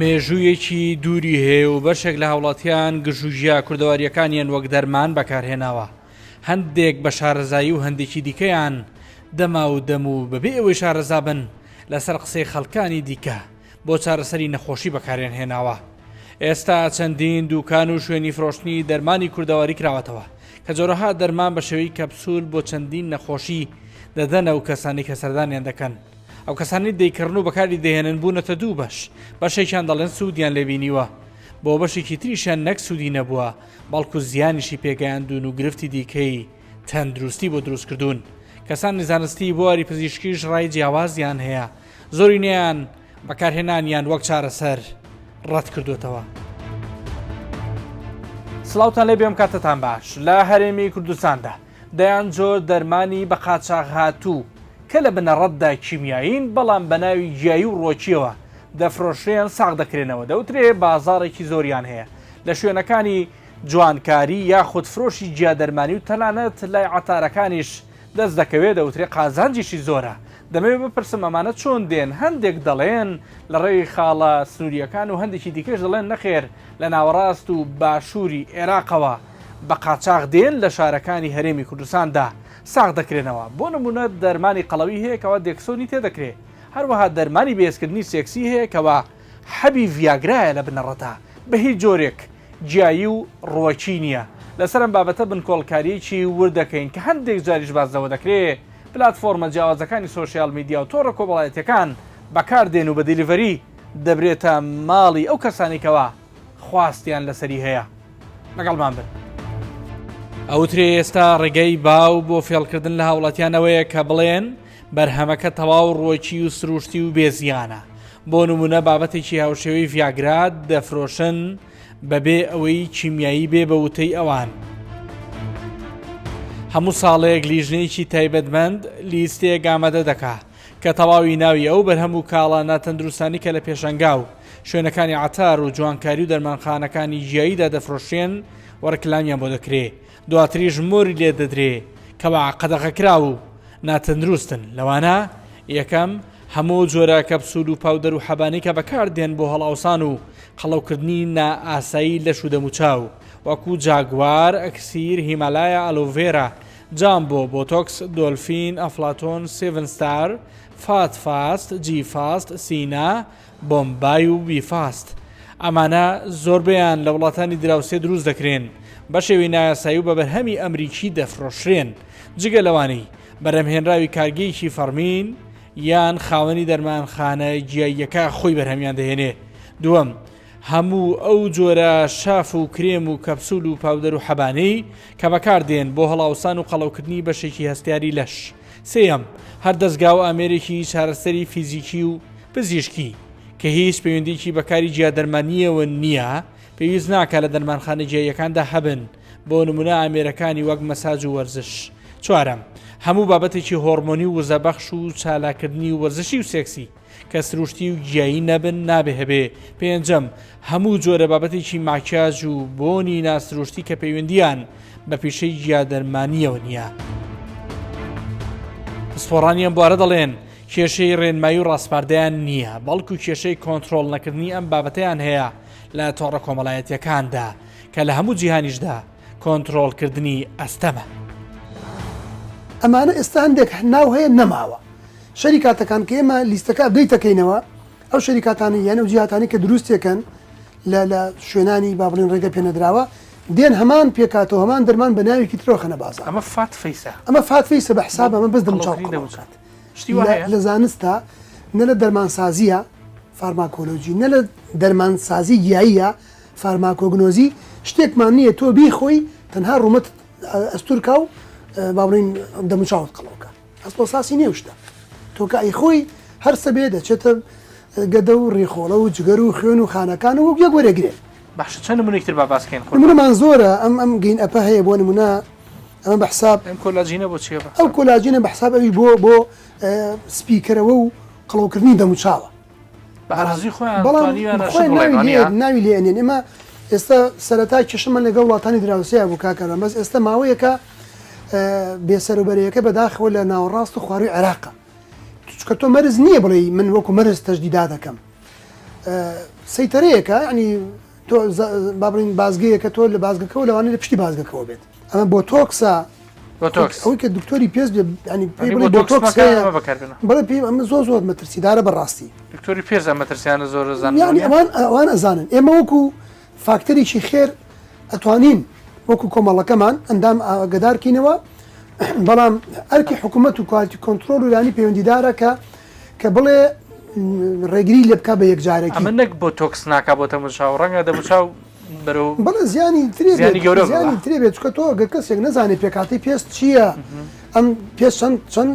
مێژوویەکی دووری هەیە و بەشێک لە هاوڵاتیان گژوژیا کوردەواریەکانیان وەک دەرمان بەکارهێناوە هەندێک بە شارەزایی و هەندێکی دیکەیان دەما و دەم و بەبێ ئەوەی شارەزابن لەسەر قسەی خەڵکانی دیکە بۆ چارەسەری نەخۆشی بەکاریان هێناوە. ئێستا چەندین دووکان و شوێنی فرۆشتنی دەرمانی کوردەواری کراوەتەوە کە جۆرەها دەرمان بە شێوەی کەپسول بۆ چەندین نەخۆشی دەدەنە و کەسانی کە سەردانیان دەکەن ئەو کەسانی دەیکڕن و بەکاری دەهێنن بوونەتە دوو بەش بەشێکیان دەڵێن سوودیان لێبینیوە بۆ بەشێکی تریشیان نەک سوودی نەبووە بەڵکو زیانیشی پێگەیاندون و گرفتی دیکەی تەندروستی بۆ دروستکردوون کەسانی زانستی بواری پزیشکیش ڕای جیاوازیان هەیە زۆرینەیان بەکارهێنانیان وەک چارەسەر ڕەت کردوتەوە. سلااوان لێ بێم کاتتان باش لە هەرێمی کوردستاندا دەیان جۆر دەرمانی بە قاچاغ هاتوو کە لە بنەڕەتدا کیمیایین بەڵام بە ناوی گیایی و ڕۆکیەوە دەفرۆشرێن ساغ دەکرێنەوە دەوترێ بازارێکی زۆریان هەیە لە شوێنەکانی جوانکاری یاخود فرۆشی جیادەرمانی و تەنانەت لای عتارەکانیش دەست دەکەوێت دەوترێت قازانجیشی زۆرە، دەمەوێت بپرسم ئەمانە چۆن دێن، هەندێک دەڵێن لە ڕێی خاڵە سنوورییەکان و هەندێکی دیکەش دەڵێن نەخێر لە ناوەڕاست و باشووری ئێراقەوە بە قاچاخ دێن لە شارەکانی هەرێمی کوردستاندا ساغ دەکرێنەوە، بۆ نموونە دەرمانی قەڵەوی هەیە کەوا دێکسۆنی تێدەکرێت، هەروەها دەرمانی بەهێزکردنی سێکسی هەیە کەوا. حەبی ڤیاگرایە لە بنەڕەتا بە هیچ جۆرێک گیایی و ڕووەکی نییە، لەسەر ئەم بابەتە بنکۆڵکارییەکی ورد دەکەین کە هەندێک جاریش باس لەوە دەکرێ پلاتفۆرمە جیاوازەکانی سۆشیال میدیا و تۆڕە کۆمەڵایەتییەکان بەکار دێن و بە دیلیڤەری دەبرێتە ماڵی ئەو کەسانەی کەوا خواستیان لەسەری هەیە. لەگەڵمان بن. ئەوترێ ئێستا ڕێگەی باو بۆ فێڵکردن لە هاوڵاتیان ئەوەیە کە بڵێن، بەرهەمەکە تەواو ڕۆکی و سروشتی و بێ زیانە بۆ نمونە بابەتێکی هاوشێوەی ڤیاگرا دەفرۆشن بەبێ ئەوەی کیمیایی بێ بە وتەی ئەوان. هەموو ساڵێک لیژنەیەکی تایبەتمەند لیستێک ئامادە دەکا کە تەواوی ناوی ئەو بەرهەم و کاڵا ناتەندروستانی کە لە پێشەنگا و شوێنەکانی عەتار و جوانکاری و دەرمانخانەکانی گیاییدا دەفرۆشرێن و ڕکلامیان بۆ دەکرێ دواتریش مۆری لێ دەدرێ کەوا قەدەغەکراو و ناتەندروستن لەوانە یەکەم هەموو جۆرە کەپسول و پاودەر و حەبانی کە بەکاردێن بۆ هەڵاوسان و قەڵەوکردنی نائاسایی لەش و دەموچاو وەکو جاگوار ئەکسیر هیمالایە ئەلوڤێرا جام بۆ بۆتۆکس دۆلفین ئەفلاتۆن سیڤنستار فات فاست جی فاست سینا بۆمبای و وی فاست ئەمانە زۆربەیان لە وڵاتانی دراوسێ دروست دەکرێن بە شێوی نایاسایی و بە بەرهەمی ئەمریکی دەفرۆشرێن جگە لەوانی بەرەمهێنراوی کارگەیەکی فەرمین یان خاوەنی دەرمانخانە گیاییەکە خۆی بەرهەمیان دەهێنێ دووەم هەموو ئەو جۆرە شاف و کرێم و کەپسول و پاودەر و حەبانەی کە بەکاردێن بۆ هەڵاوسان و قەڵەوکردنی بەشێکی هەستیاری لەش سێیەم، هەر دەزگا و ئامێرێکی چارەسەری فیزیکی و پزیشکی، کە هیچ پەیوەندییەکی بە کاری جیادەرمانییەوە نییە، پێویست ناکات لە دەرمانخانە جیاییەکاندا هەبن، بۆ نموونە ئامێرەکانی وەک مەساج و وەرزش. چوارەم، هەموو بابەتێکی هۆڕمۆنی و وزەبەخش و چالاککردنی وەرزشی و سێکسی. کە سروشتی و گیایی نەبن نابێ هەبێ. پێنجەم، هەموو جۆرە بابەتێکی ماکیاج و بۆنی ناسروشتی کە پەیوەندییان بە پیشەی گیادەرمانییەوە نییە. پسپۆڕانی ئەم بوارە دەڵێن، کێشەی ڕێنمایی و ڕاسپاردەیان نییە، بەڵکو کێشەی کۆنترۆڵ نەکردنی ئەم بابەتەیان هەیە لە تۆڕە کۆمەڵایەتییەکاندا، کە لە هەموو جیهانیشدا کۆنترۆڵکردنی ئەستەمە. ئەمانە ئێستا هەندێک ناو هەیە نەماوە. شەریکاتەکان کە ئێمە لیستەکە ئەپدەیت دەکەینەوە، ئەو شەریکاتانەی یان ئەو جیهاتانەی کە دروستیەکەن لە لە شوێنانی با بڵێین ڕێگە پێنەدراوە، دێن هەمان پێکهاتە و هەمان دەرمان بە ناوێکی ترەوە خەنە بازاڕ. ئەمە فات فەیسە. ئەمە فات فەیسە بە حساب ئەمە بەس دەموچاو قەڵەوکری قەڵەو دەموچاو. کات. شتی وا هەیە؟ لە زانستە نە لە دەرمانسازییە، فارماکۆلۆجی، نە لە دەرمانسازی گیاییە، فارماکۆگنۆزی، شتێکمان نییە تۆ بیخۆی تەنها ڕوومەتت ئەستوور کا و با بڵێین دەموچاوت قەڵەو کا. ئەسڵساسی نێو شتە تۆکایی خۆی هەر سەبێ دەچێتە گەدە و ڕیخۆڵە و جگەر و خوێن و خانەکان و گوێک وەرەگرێ. باشە چەند نمونەیەکی تر با باسکەین قوربان. نمونەمان زۆرە ئەم ئەم گەین ئەپە هەیە بۆ نمونە ئەمە بە حساب. ئەم کۆلاجینە بۆ چیە بە حساب. ئەو کۆلاجینە بە حساب ئەویش بۆ بۆ سپیکەرەوە و قڵەوکردنی دەموچاوە. ناوی لێنێن ئمە ئێستا سەرەتا کێشمە لەگە وڵاتانی دراوسیا بوو کاکەران بەس ئێستا ماوەیەکە بێسەروبەرەکە بەداخەوە لە ناوەڕاست و خواروی عێراقە چکە تۆ مەرز نییە بڵێ من وەکو مەرز تەجدیدا دەکەم سەیتەرەیەەکە ینی تۆ با بڵێین بازگەیەکە تۆ لە بازگەکەەوە لەوانی لە پشتی بازگەکەەوە بێت ئەمە بۆ تۆکسە ئەوی کە دکتۆری پێست بڵێ پێی ئەمە زۆ زۆر مەترسیدارە بەڕاستی دکتۆری پێزە مەترسیانە زۆر زانانی ئەوان ئەوان ئەزانن ئێمە وەکو فاکتەرێکی خێر ئەتوانین وەکو کۆمەڵەکەمان ئەندام گەدارکەینەوە بەڵام ئەرکی حکوومەت و کواتی کۆنتترۆل ولانی پەیوەندیدارە کە کە بڵێ ڕێگری لێ بکا بە یەکجارەکی. ئەمە نەک بۆتۆکس ناکا بۆ تەموچاو، ڕەنگە دەموچاو بەرەو بەڵێ زیانی ترێ بێت، زیانی گەورە ببا. زیانی ترێ بێت، چونکە تۆ گەر کەسێک نەزانێ پێکهاتەی پێست چییە، ئەم پێست چەند چەند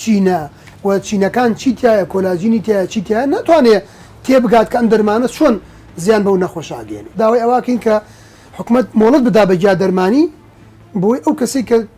چینە و چینەکان چی تیایە، کۆلاجینی تیایە چی تیایە، ناتوانێ تێ بگات کە ئەم دەرمانە چۆن زیان بەو نەخۆشە ئەگەیەنێ. داوای ئەوە ئەکەین کە حکومەت مۆڵەت بدا بە گیادەرمانی بۆی ئەو کەسەی کە.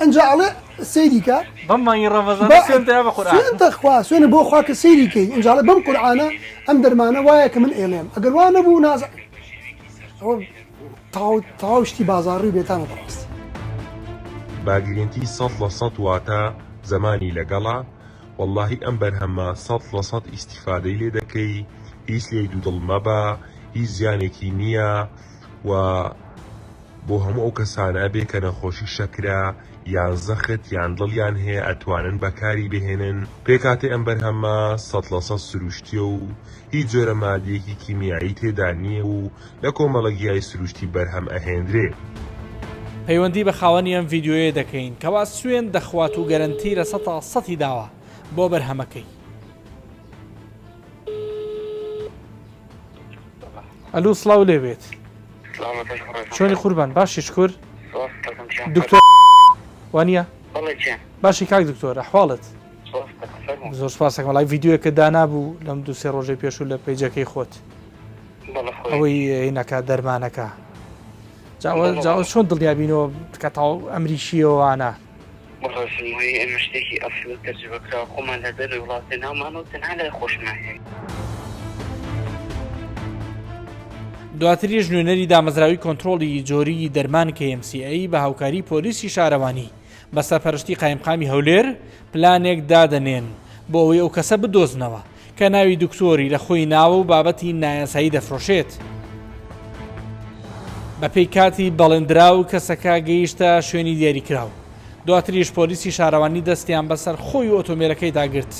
ئەجا ئەڵێ سەیریکە بەم مانگی ڕەمەزانە سوێن تەیا بە قورئان سوێن تەخوا سوێنە بۆ خوا کە سەیری کەی ئەجا ئەڵێ بەم قورئانە ئەم دەرمانە وایە کە من ئێڵێم ئەگەر وا نەبوو ناز ئەوە تاو تاو شتی بازاڕی و بێتامە بەڕاستی باگرنتی سەد لە سەد واتە زمانی لەگەڵە وەڵاهی ئەم بەرهەمە سەد لە سەد ئیستیفادەی لێ دەکەی هیچ لێی دوودڵ مەبە هیچ زیانێکی نییە و بۆ هەموو ئەو کەسانە ئەبێ کە نەخۆشی شەکرە یان زەخت یان دڵیان هەیە ئەتوانن بەکاری بهێنن پێکهاتەی ئەم بەرهەمە سەد لە سەد سروشتیە و هیچ جۆرە مادەیەکی کیمیایی تێدا نیە و لە کۆمەڵە گیای سروشتی بەرهەم ئەهێنرێ. پەیوەندی بە خاوەنی ئەم ڤیدیۆیە دەکەین کەوا سوێند دەخوات و گەرەنتی لە سەتا سەتی داوە بۆ بەرهەمەکەی. ئەلو سڵاو لێبێت. چۆنی قوربان باشی شکور دکتۆر وانە باشی کاک دکتۆر ئەحواڵت زۆر سپاسەکەم لای یددیوەکە دانابوو لەم دو سێ ڕۆژەی پێشوو لە پیجەکەی خۆت ئەوەی هینەکە دەرمانەکە جاوە جاوە چۆن دڵنیابینەوە کە تاو ئەمریکیەوەوانە بەڕاستی مۆیی ئێمە شتێکی ئەسڵی و تەجربە کراوە خۆمان لە دەرەوەی وڵات هێناومانەوە تەنها لای خۆشمان هێناوە. دواتریش نوێنەری دامەزراوی کۆنترۆڵی جۆریی دەرمان KMCA بە هاوکاری پۆلیسی شارەوانی بە سەرپەرشتی قایمقامی هەولێر پلانێک دادەنێن بۆ ئەوەی ئەو کەسە بدۆزنەوە کە ناوی دکتۆری لە خۆی ناوە و بابەتی نایاسایی دەفرۆشێت. بەپێی کاتی بەڵێندراو کەسەکە گەیشتە شوێنی دیاریکراو. دواتریش پۆلیسی شارەوانی دەستیان بەسەر خۆی و ئۆتۆمبێلەکەیدا گرت.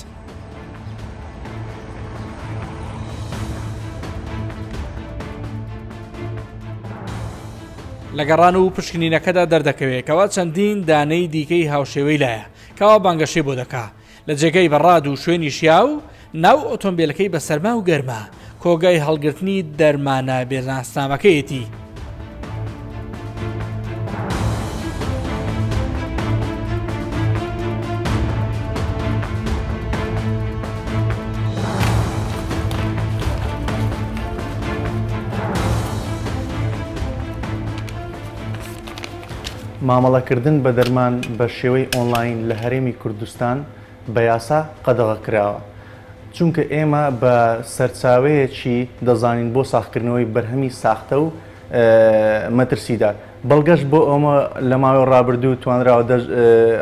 لە گەڕان و پشکنینەکەدا دەردەکەوێت کەوا چەندین دانەی دیکەی هاوشێوەی لایە کەوا بانگەشەی بۆ دەکا لە جێگای بە ڕاد و شوێنی شیاو، ناو ئۆتۆمبێلەکەی بە سەرما و گەرما، کۆگای هەڵگرتنی دەرمانە بێ ناسنامەکەیەتی. مامەڵەکردن بە دەرمان بە شێوەی ئۆنلاین لە هەرێمی کوردستان بە یاسا قەدەغە کراوە، چونکە ئێمە بە سەرچاوەیەکی دەزانین بۆ ساغکردنەوەی بەرهەمی ساختە و مەترسیدار. بەڵگەش بۆ ئەمە لە ماوەی ڕابردوو توانراوە دەست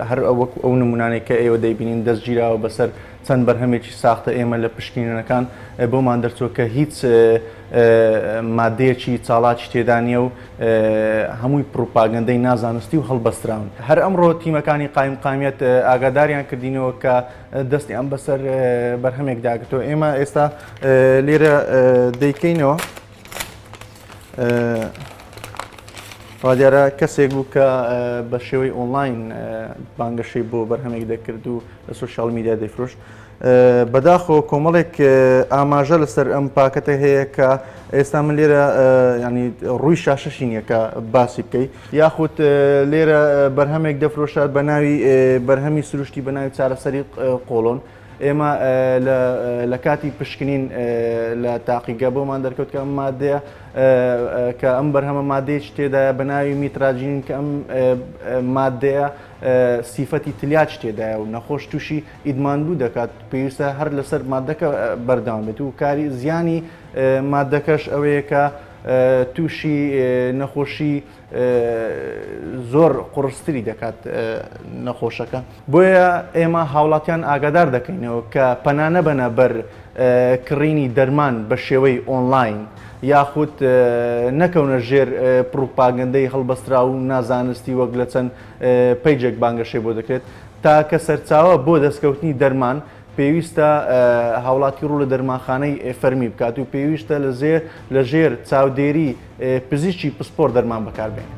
هەر وەک ئەو نموونانەی کە ئێوە دەیبینین دەست گیراوە بەسەر چەند بەرهەمێکی ساختە ئێمە لە پشکنینەکان بۆمان دەرچووە کە هیچ ماددەیەکی چاڵاکی تێدا نییە و هەمووی پڕوپاگەندەی نازانستی و هەڵبەستراون. هەر ئەمڕۆ تیمەکانی قایمقامیەت ئاگاداریان کردینەوە کە دەستیان بەسەر بەرهەمێکدا گرتووە، ئێمە ئێستا لێرە دەیکەینەوە. وا دیارە کەسێک بوو کە بە شێوەی ئۆنلاین بانگەشەی بۆ بەرهەمێک دەکرد و لە سۆشیاڵ میدیا دەیفرۆشت. بەداخەوە کۆمەڵێک ئاماژە لەسەر ئەم پاکەتە هەیە کە ئێستا من لێرە ینی ڕووی شاشەشی نییە کە باسی بکەیت یاخود لێرە بەرهەمێک دەفرۆشە بە ناوی بەرهەمی سروشتی بە ناوی چارەسەری قۆڵۆن ئێمە لە کاتی پشکنین لە تاقیگە بۆمان دەرکەوت کە ئەم مادەیە کە ئەم بەرهەمە مادەیەکی تێدایە بە ناوی میتراجین کە ئەم مادەیە سیفەتی تلیاچ تێدایە و نەخۆش تووشی ئیدمانبوو دەکات پێویستە هەر لەسەر مادەکە بەردەوام بێت و کاری زیانی مادەکەش ئەوەیە کە تووشی نەخۆشی زۆر قڕستری دەکات نەخۆشەکە بۆیە ئێمە هاوڵاتیان ئاگادار دەکەینەوە کە پەنانە بەنە بەر کڕینی دەرمان بە شێوەی ئۆنلاین یاخود نەکەونە ژێر پروپاگەندەی هەڵبەسترا و نازانستی وەک لە چەند پیجێک بانگەشەی بۆ دەکرێت تاکە سەرچاوە بۆ دەستکەوتنی دەرمان پێویستە هاوڵاتی ڕوو لە دەرمانخانەی فەرمی بکات و پێویستە لە زێر لە ژێر چاودێری پزیشکی پسپۆر دەرمان بەکاربێن.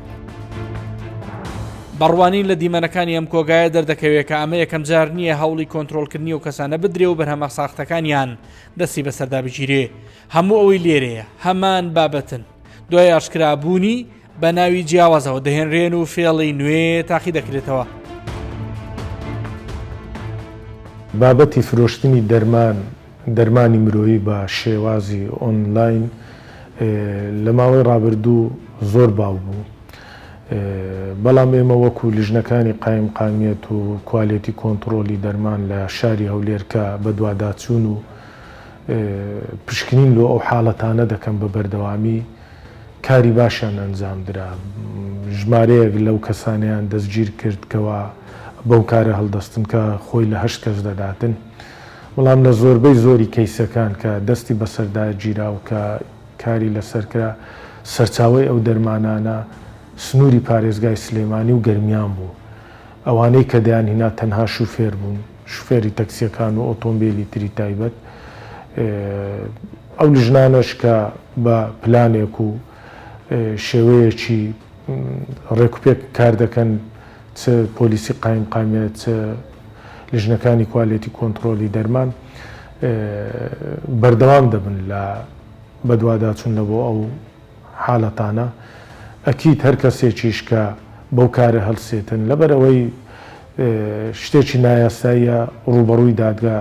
بە ڕوانین لە دیمەنەکانی ئەم کۆگایە دەردەکەوێت کە ئەمە یەکەم جار نییە هەوڵی کۆنتترۆلکردنی و کەسانە بدرێ و بەرهەمە ساختەکانیان دەستی بەسەردا بگیرێ هەموو ئەوەی لێرەیە هەمان بابەتن دوای ئاشکرابوونی بە ناوی جیاوازەوە دەهێنرێن و فێڵی نوێ تاقی دەکرێتەوە. بابەتی فرۆشتنی دەرمان، دەرمانی مرۆیی بە شێوازی ئۆنلاین لە ماوەی ڕابردوو زۆر باو بوو، بەڵام ئێمە وەکو لیژنەکانی قایمقامیەت و کوالێتی کۆنتڕۆڵی دەرمان لە شاری هەولێر کە بەدواداچوون و پشکنین لۆ ئەو حاڵەتانە دەکەن بە بەردەوامی، کاری باشیان ئەنجامدرا، ژمارەیەک لەو کەسانەیان دەستگیرکرد کەوا بەو کارە هەڵدەستن کە خۆی لە هەشت کەس دەداتن، بەڵام لە زۆربەی زۆری کەیسەکان کە دەستی بەسەردایە گیرا و کە کاری لەسەر کرا، سەرچاوەی ئەو دەرمانانە سنووری پارێزگای سلێمانی و گەرمیان بوو، ئەوانەی کە دەیانهینا تەنها شوفێر بوون. شوفێری تەکسیەکان و ئۆتۆمبێلی تری تایبەت، ئەو لیژنانەش کە بە پلانێک و شێوەیەکی ڕێکوپێک کار دەکەن چ پۆلیسی قایمقامیە چ لیژنەکانی کوالێتی کۆنتڕۆلی دەرمان بەردەوام دەبن لە بەدواداچون لە بۆ ئەو حالەتانە ئەکید هەر کەسێکیش کە بەو کارە هەلسێتن لەبەر ئەوەی شتێکی نایاساییە رووبەڕووی دادگا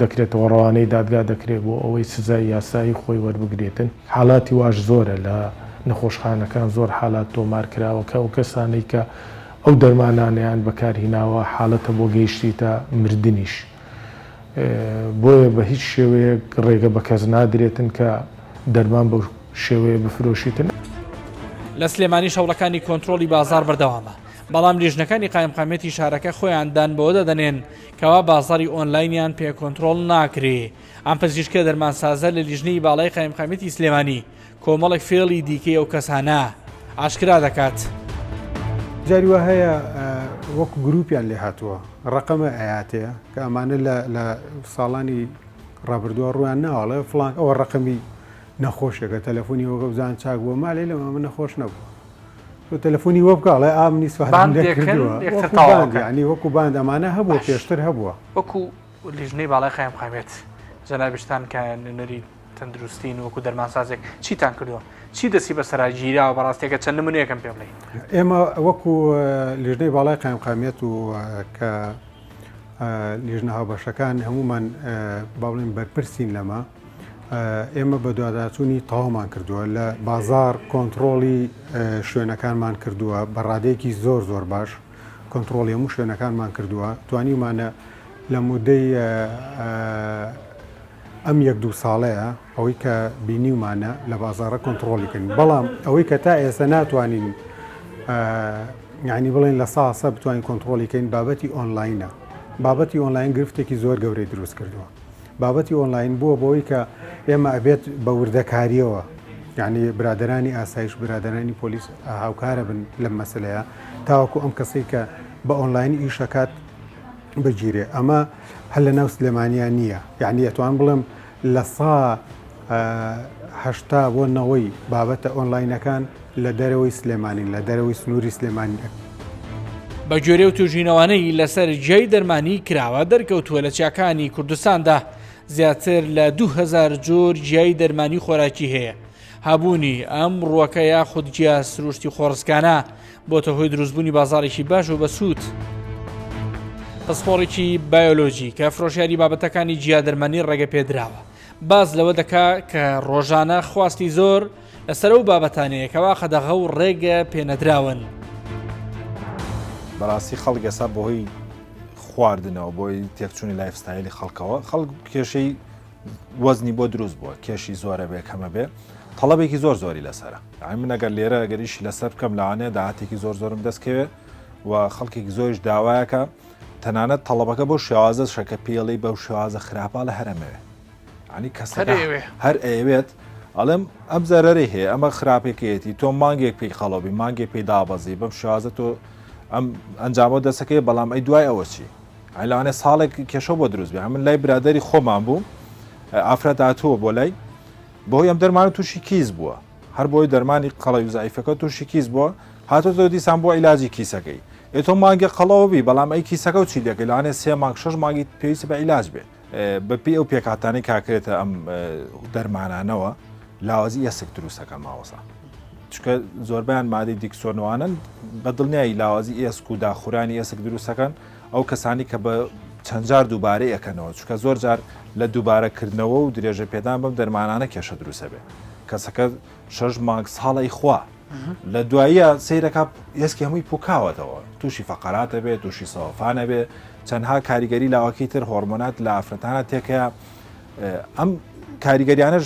دەکرێتەوە رەوانەی دادگا دەکرێت بۆ ئەوەی سزای یاسایی خۆی وەربگرێتن حالاتی واش زۆرە لە نەخۆشخانەکان زۆر حالات تۆمار کراوە کە ئەو کەسانەی کە ئەو دەرمانانەیان بەکارهیناوە حالەتە بۆ گەیشتیتە مردنیش. بۆیە بە هیچ شێوەیەک ڕێگە بە کەس نادرێتن کە دەرمان بەو شێوەیە بفرۆشیتن. لە سلێمانی شەوڵەکانی کۆنترۆڵی بازار بەردەوامە بەڵام لیژنەکانی قایمقامەتی شارەکە خۆیان دان بەوەدا دەنێن کەوا بازاری ئۆنلاینیان پێ کۆنترۆڵ ناکرێ ئەم پزیشکە دەرمانسازە لە لیژنەی باڵای قایمقامەتی سلێمانی کۆمەڵێک فێڵی دیکەی ئەو کەسانە ئاشکرا دەکات. جاری وا هەیە وەکو گروپیان لێ هاتووە ڕقەمە ئەیاتەیە کە ئەمانە لە ساڵانی ڕابردووە ڕویان ناوەڵێ فلان ئەوە ڕقەمی نەخۆشێکە تەلەفۆنی وەگە بزان چاک بووە مالێ لە من نەخۆش نەبووە تۆ تەلەفۆنی وە بکڵێ ئامنی سوانی وەکو باند ئەمانە هەبوو پێشتر هەبووە وەکو لیژنەی باڵای خەیان قامێت جەنابشتان کە نوێنەری تەندروستین وەکو دەرمانسازێک چیتان کردووە چی دەسی بەسەرا گیراوە بەڕاستێکە چەند منێکم پێ بڵێ ئێمە وەکو لیژنەی باڵای قایمقامیەت و کە لیژنە هاوبەشەکان هەمومان باڵین بەرپرسین لەمە ئێمە بە دواداچوونی تەوامان کردووە لە بازار کۆنتترۆڵی شوێنەکانمان کردووە بە ڕادێکی زۆر زۆر باش کۆنتڕۆڵی هەموو شوێنەکانمان کردووە توانیومانە لە مودەی ئەم یەک دوو ساڵەیە ئەوەی کە بینیومانە لە بازارە کۆنتترۆلیکن بەڵام ئەوەی کە تا ئێستا ناتوانین یعنی بڵێن لە ساسە بتوانین کۆنتترۆلیکەین بابەتی ئۆنلاینە بابەتی ئۆنلاین گرفتێکی زۆر گەورەی دروست کردووە بابەتی ئۆنلاین بووە بەوەی کە ئێمە ئەبێت بە وردەکاریەوە یعنی برادرانی ئاسایش برادرانی پۆلیس هاوکارە بن لەم مەسلەیە تاوەکو ئەم کەسی کە بە ئۆنلاین ئیشەکات بگیرێ ئەمە هەل لە ناو سلێمانیا نییە یعنی ئەتوان بڵێم لە سا هەشتا بۆ نەوەی بابەتە ئۆنلاینەکان لە دەرەوەی سلێمانین لە دەرەوەی سنووری سلێمانین. بە گوێرەی و توژینەوانەی لەسەر جێی دەرمانی کراوە دەرکەوتووە لە چیاکانی کوردستاندا زیاتر لە 2000 جۆر جیای دەرمانی خۆراکی هەیە هەبوونی ئەم ڕووەکە یاخود جیا سروشتی خۆڕسکانە بۆتە هۆی دروستبوونی بازارێکی باش و بەسوود. پسپۆڕێکی بایۆلۆژی کە فرۆشیاری بابەتەکانی جیادەرمانی ڕێگە پێدراوە باس لەوە دەکا کە ڕۆژانە خواستی زۆر لەسەر ئەو بابەتانەیە کەوا قەدەغە و ڕێگە پێنەدراون. بەڕاستی خەڵک ئێستا بەهۆی خواردنەوە بۆی تێکچوونی لایف ستایلی خەڵکەوە خەڵک کێشەی وەزنی بۆ دروست بووە کێشی زۆرە بێ کەمە بێ تەڵەبێکی زۆر زۆری لەسرە ئەی من ئەگەر لێرە ئەگەریش لەسەر بکەم لاانێ داهاتێکی زۆر زۆرم دەستکەوێ و خەڵکێک زۆریش داوایەکە تەنانەت تەڵەبەکە بۆ شێوازە شەکە پێڵی بەو شێوازە خراپە لە هەرەمەوێ ئەنی کەسەکە هەر ئەوێت ئەڵێم ئەم زەرری هەیە ئەمە خراپێکەتی تۆ مانگێک پێی خەڵۆبی مانگێک پێی دابەزی بەم شێوازە تۆ ئەم ئەنجامە دەسەکەی بەڵام ئەی دوای ئەوە چی ئەلانێ ساڵێک کێشە بۆ دروست بێ من لای برادری خۆمان بوو ئافرەت هاتووە بۆ لای بۆ ئەم دەرمانە تووشی کیس بووە هەر بۆی دەرمانی قەڵی و زایفەکە تووشی کیس بووە هاتۆ زۆ دیسان بۆ عیلاجی کیسەکەی ئێ تۆ مانگێک قەڵەوە بی بەڵام ئەی کیسەکەو چی لێکەی لەوانێ سێ مانگ شەش مانگیت پێویستە بە عیلاج بێ بەپی ئەو پێکاتانەی کاکرێتە ئەم دەرمانانەوە لاوازی ئێسک دروستەکە ماوەسا چکە زۆربیان مادەی دیکسۆنوانن بە دڵنیایی لاوازی ئێسک و داخورانی ئێسک دروستەکەن ئەو کەسانی کە بە چەندجار دووبارە ئەەکەنەوە چکە زۆر جار لە دووبارەکردنەوە و درێژە پێدان بەم دەرمانانە کێشە دروستە بێت کەسەکە شەش مانگ ساڵی خوا لە دواییە سەیرەکە ئێسکی هەمووی پوکاوەتەوە تووشی فەقەراتە بێت تووشی سەوەفانە بێ چەندها کاریگەری لاوەکی تر هۆرمۆنات لە ئافرەتانە تێکەیە ئەم کاریگەریانەش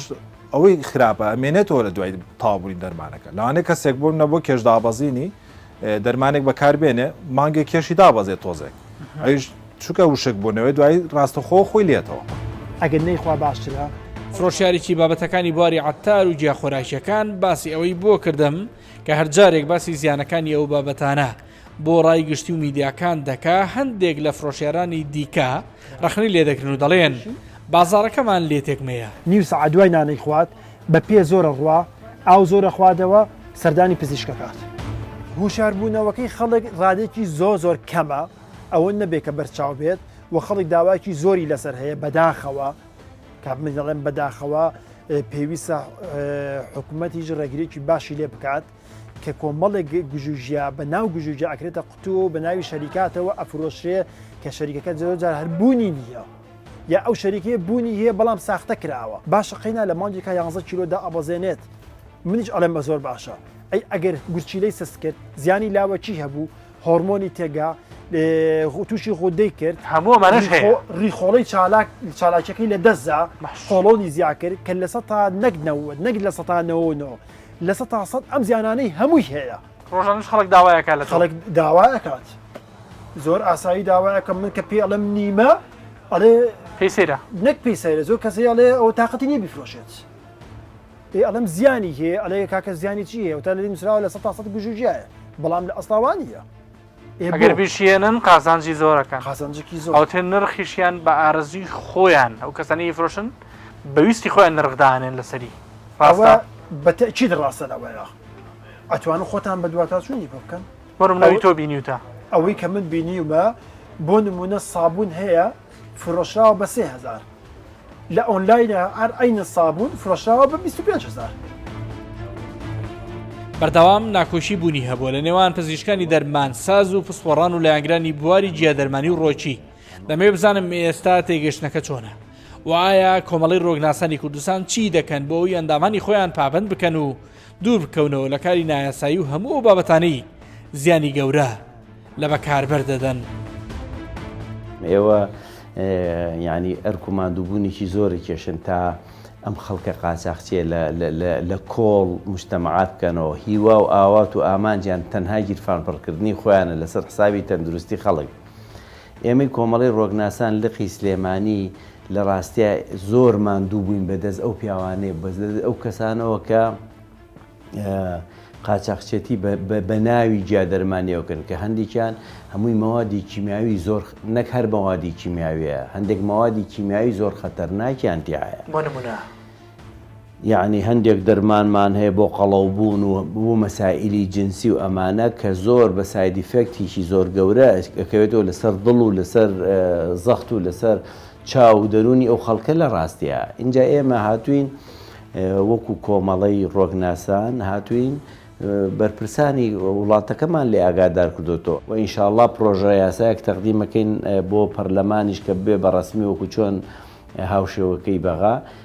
ئەوەی خراپە ئەمێنێتەوە لە دوای تاوبووین دەرمانەکە لەوانێ کەسێک بوون نەبوو کێش دابەزینی دەرمانێک بەکاربێنێ مانگێک کێشی دابەزێت تۆزێک ئەویش چونکە وشک بوو نەوەی دوایی ڕاستەخۆ خۆی لێتەوە. ئەگەر نەیخوا باشترە. فرۆشیاریی بابەتەکانی بواری عەتار و گیا خۆراکیەکان باسی ئەوەی بۆ کردم کە هەر جارێک باسی زیانەکانی ئەو بابەتانە بۆ ڕای گشتی و میدیاکان دەکا هەندێک لە فرۆشیارانی دیکە ڕەخنەی لێدەگرن و دەڵێن بازارەکەمان لێتێک مەیە. نیو سەعات دوای نانەی خوات بە پێ زۆرە ڕوا، ئاو زۆرە خوادەوە، سەردانی پزیشک ئەکات. هوشار بوونەوەکەی خەڵک ڕادەیەکی زۆر زۆر کەمە ئەوە نەبێت کە بەرچاو بێت و خەڵک داوایەکی زۆری لەسەر هەیە بەداخەوە کە من دەڵێم بەداخەوە پێویستە حکومەتیش ڕێگریکی باشی لێ بکات. کە کۆمەڵێک گژوژیا بە ناو گژوجا ئەکرێتە قوتووە و بە ناوی شەریکاتەوە ئەفرۆشرێ کە شەریکەکە جۆجار هەر بوونی نییە. یا ئەو شەریکەیە بوونی هەیە بەڵام ساختە کراوە باشە قەینا لە مانگێکا 11 کیلۆدا ئەبەزێنێت منیش ئەڵێم بە زۆر باشە ئەی ئەگەر گورچیلەی سست کرد زیانی لاوەکی هەبوو هۆرمۆنی تێگا تووشی غودەی کرد هەموو مەرش ڕیخۆڵی چالاک چالاکیەکەی لە دەستدا خۆڵۆنی زیاکرد کە لە سە تا نەک نەوە نەک لە سە تا نەوەەوە لە سەد تا سەد ئەم زیانانەی هەمووی هەیە. ڕۆژانەش خەڵک داوای ئەکات لە تۆ. خەڵک داوای ئەکات. زۆر ئاسایی داوای ئەکەم من کە پێی ئەڵێم نیمە ئەڵێ پێی سەیرە. نەک پێی سەیرە زۆر کەس هەیە ئەڵێ ئەوە تاقەتی نییە بیفرۆشێت. پێی ئەڵێم زیانی هەیە ئەڵێ کاکە زیانی چی هەیە؟ وتە لێی نووسراوە لە سەد تا سەد گژوگیایە بەڵام لە ئەسڵا وا نییە. ئێ ئەگەر بۆ؟ بیشیێنن قازانجی زۆرەکەن قازانجێکی زۆر ئەوتێ نرخیشیان بە ئارەزوی خۆیان ئەو کەسانی ئیفرۆشن بەویستی خۆیان نرخدانێن لەسەری ئەوە ڕاستە بە تەئکید ڕاستە لەوەیە ئەتوانن خۆتان بە دواتاچوونی بۆ بکەن وەرم ناوی ئەو- تۆ بینیوتە ئەوەی کە من بینیومە بۆ نمونە سابون هەیە فرۆشراوە بە سێ هەزار لە ئۆنلاینە ئەر عینە سابوون فرۆشراوە بە 25 هزار. بەردەوام ناکۆشی بوونی هەبوو لە نێوان پزیشکانی دەرمان ساز و پسپۆڕان و لایەنگرانی بواری جیا دەرمانی و ڕۆکی دەمێ بزانم ئێستا تێگەشتنەکە چۆنە و ئایا کۆمەڵی ڕۆگناسانی کوردستان چی دەکەن بۆ ئەوی ئەندامانی خۆیان پابند بکەن و دوور بکەونەوە لە کاری نایاسایی و هەموو ئەو بابەتانەی زیانی گەورە لە بەکاربەر دەدەن. ئێوە یعنی ئەرک و ماندووبوونێکی زۆر کێشن تا ئەم خەڵکە قاچاخچیە لە کۆڵ مشتەمەعات بکەنەوە هیوا و ئاوات و ئامانجیان تەنها گیرفان پڕکردنی خۆیانە لەسەر حسابی تەندروستی خەڵک ئێمەی کۆمەڵی ڕۆگناسان لقی سلێمانی لە ڕاستیا زۆر ماندوو بووین بە دەست ئەو پیاوانەی بەس لە دەست ئەو کەسانەوە کە قاچاخچێتی بە ناوی جیا دەرمانیەوەکەن کە هەندێکیان هەمووی مەوادی کیمیاوی زۆر نەک هەر مەوادی کیمیاویە هەندێک مەوادی کیمیاوی زۆر خەتەرناکیان تایە بۆ نمونە یەعنی هەندێک دەرمانمان هەیە بۆ قەڵەوبوون و بۆ مەسائیلی جنسی و ئەمانە کە زۆر بە ساید ئیفێکت هیکی زۆر گەورە ئەکەوێتەوە لەسەر دڵ و لەسەر زەخت و لەسەر چاو و دەروونی ئەو خەڵکە لە ڕاستیا ئینجا ئێمە هاتووین وەکو کۆمەڵەی ڕۆگناسان هاتووین بەرپرسانی وڵاتەکەمان لێ ئاگادار کردوێتەوە و ئینشاءاللە پرۆژە یاسایەک تەقدیمەکەین بۆ پەرلەمانیش کە بێ بە ڕەسمی وەکو چۆن هاوشێوەکەی بەغا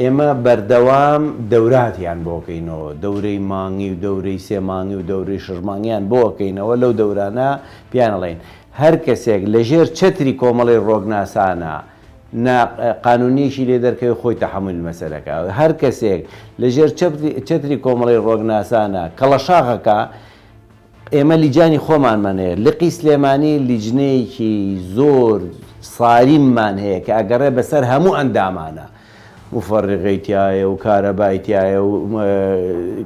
ئێمە بەردەوام دەوراتیان بۆ ئەکەینەوە، دەورەی مانگی و دەورەی سێ مانگی و دەورەی شەش مانگیان بۆ ئەکەینەوە، لەو دەورانە پێیان ئەڵێین هەر کەسێک لە ژێر چەتری کۆمەڵەی ڕۆگناسانا نا قانونیەکی لێ دەرکەوێت خۆی تەحەمولی مەسەل ئەکا، هەر کەسێک لە ژێر چەتری کۆمەڵەی ڕۆگناسانا کەڵەشاخ ئەکا، ئێمە لیجانی خۆمانمان هەیە، لقی سلێمانی لیجنەیەکی زۆر صاریممان هەیە کە ئەگەڕێ بەسەر هەموو ئەندامانە، مفەڕغەی تیایە و کارەبای تیایە و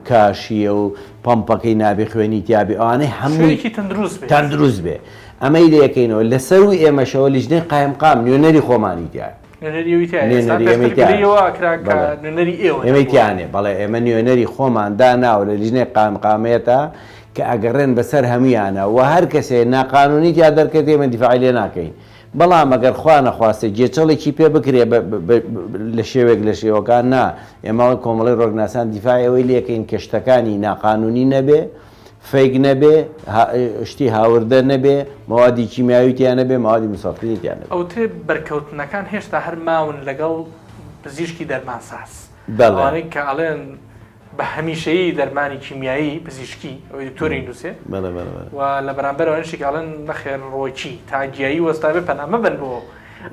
کاشییە و پەمپەکەی نابێ خوێنی تیابێ ئەوانەی هەمووی شوێنێکی تەندروست بێت تەندروست بێ ئەمەی لێکەینەوە، لەسەرووی ئێمەشەوە لیجنەی قایمقام نوێنەری خۆمانی تیایە، نوێنەریەمەیتیانێ بەڵێ ئێمە نوێنەری خۆمان داناوە لە لیژنەی قامقامێتە کە ئەگەڕێن بەسەر هەمویانە و هەر کەسێ ناقانونی یا دەرکرد ئێمە دیفاعی لێ ناکەین بەڵام ئەگەر خوا نەخواستە گێچەڵێکی پێ بکرێ لە شێوێک لە شێوەکان نا ئێماوە کۆمەڵی ڕۆگناسان دیفاعەوەی لەکەین کەشتەکانی ناقانونی نەبێ فەیک نەبێ، شتی هاوردە نەبێ، مەوادی کیمیاوی تیا نەبێ، مەوادی مسەتنی تیا نەبێ. ئەوترێ بەرکەوتنەکان هێشتا هەر ماون لەگەڵ پزیشکی دەرمانساز. بەڵێ. ئەوانەی کە ئەڵێن بە هەمیشەیی دەرمانی کیمیایی پزیشکی ئەوەی دکتۆری نووسێ. بەڵێ بەڵێ بەڵێ. و لە بەرامبەر ئەوانیشی کە ئەڵێن نەخێر ڕۆکی تا گیایی وەستابێ پەنا مەبەن بۆ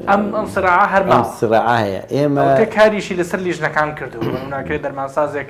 ئەم ئەم سراعە هەر ماوە. ئەم سراعە هەیە. ئێمە. ئەوترێ کاریشی لەسەر لیژنەکان کردووە. بەڵام ناکرێ دەرمانسازێک.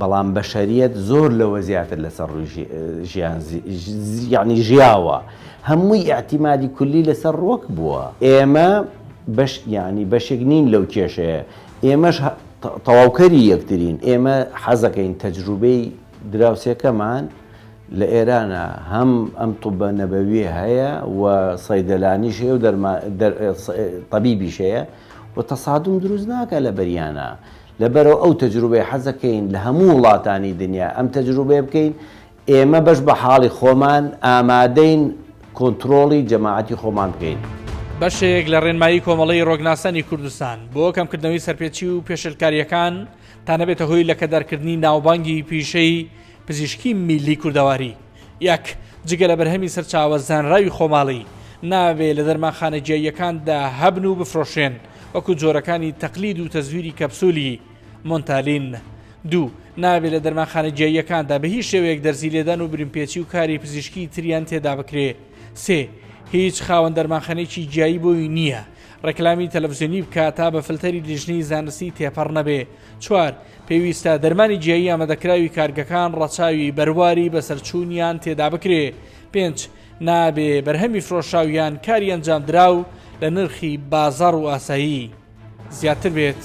بەڵام بەشەریەت زۆر لەوە زیاتر لەسەر ڕووی ژیان یەعنی ژیاوە هەمووی ئیعتیمادی کولی لەسەر ڕۆک بووە ئێمە بەش یەعنی بەشێک نین لەو کێشەیە ئێمەش تەواوکەری یەکترین ئێمە حەزەکەین تەجروبەی دراوسێکەمان لە ئێرانە هەم ئەم طوبە نەبەویە هەیە و سەیدەلانیش هەیە و طبیبیش هەیە و تەسادم دروست ناکە لە بەریانە لەبەرئەوە ئەو تەجروبەیە حەزەکەین لە هەموو وڵاتانی دنیا ئەم تەجروبەیە بکەین، ئێمە بەش بە حاڵی خۆمان ئامادەین کۆنترۆڵی جەماعەتی خۆمان بکەین. بەشێک لە ڕێنمایی کۆمەڵەی ڕۆگناسانی کوردستان بۆ کەمکردنەوەی سەرپێچی و پێشێلکارییەکان تا نەبێتە هۆی لەکەدارکردنی ناوبانگی پیشەی پزیشکی میللی کوردەواری. یەک، جگە لە بەرهەمی سەرچاوە زانراوی خۆماڵی، نابێ لە دەرمانخانە گیاییەکاندا هەبن و بفرۆشرێن، وەکو جۆرەکانی تەقلید و تەزویری کەپسولی، مۆنتالین. دوو، نابێ لە دەرمانخانە گیاییەکاندا بە هیچ شێوەیەک دەرزی لێدان و برینپێچی و کاری پزیشکیی تریان تێدا بکرێ. سێ، هیچ خاوەن دەرمانخەنەیەکی گیایی بۆی نییە ڕێکلامی تەلەفزیۆنی بکا تا بە فلتەری لیژنەی زانستی تێپەڕ نەبێ چوار، پێویستە دەرمانی جیایی ئامادەکراوی کارگەکان ڕەچاوی بەرواری بەسەرچوونیان تێدا بکرێ. پێنج، نابێ بەرهەمی فرۆشراو یان کاری ئەنجامدراو لە نرخی بازاڕ و ئاسایی زیاتر بێت.